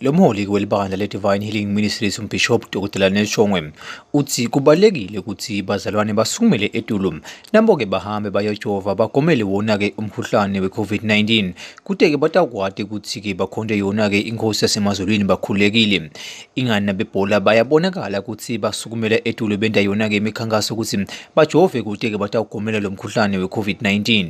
Lo mholi welibandla le-Divine Healing Ministries uMbhishobhi Dr Neshongwe uthi kubalulekile ukuthi bazalwane basukumele etulu nabo-ke bahambe bayojova bagomele wona-ke umkhuhlane we-COVID-19 kute-ke batakwati ukuthi-ke bakhonte yona-ke inkosi yasemazulwini bakhululekile ingani nabebhola bayabonakala ukuthi basukumela etulu benta yona-ke imikhankaso ukuthi bajove kute-ke batawugomela lo mkhuhlane we-COVID-19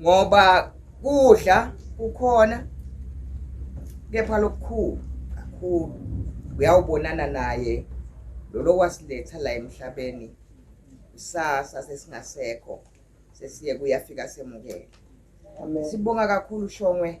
ngoba kudla kukhona kepha lokukhulu kakhulu uyawubonana naye lolo wasiletha la emhlabeni kusasa sesingasekho sesiye kuyafika semukele sibonga kakhulu shongwe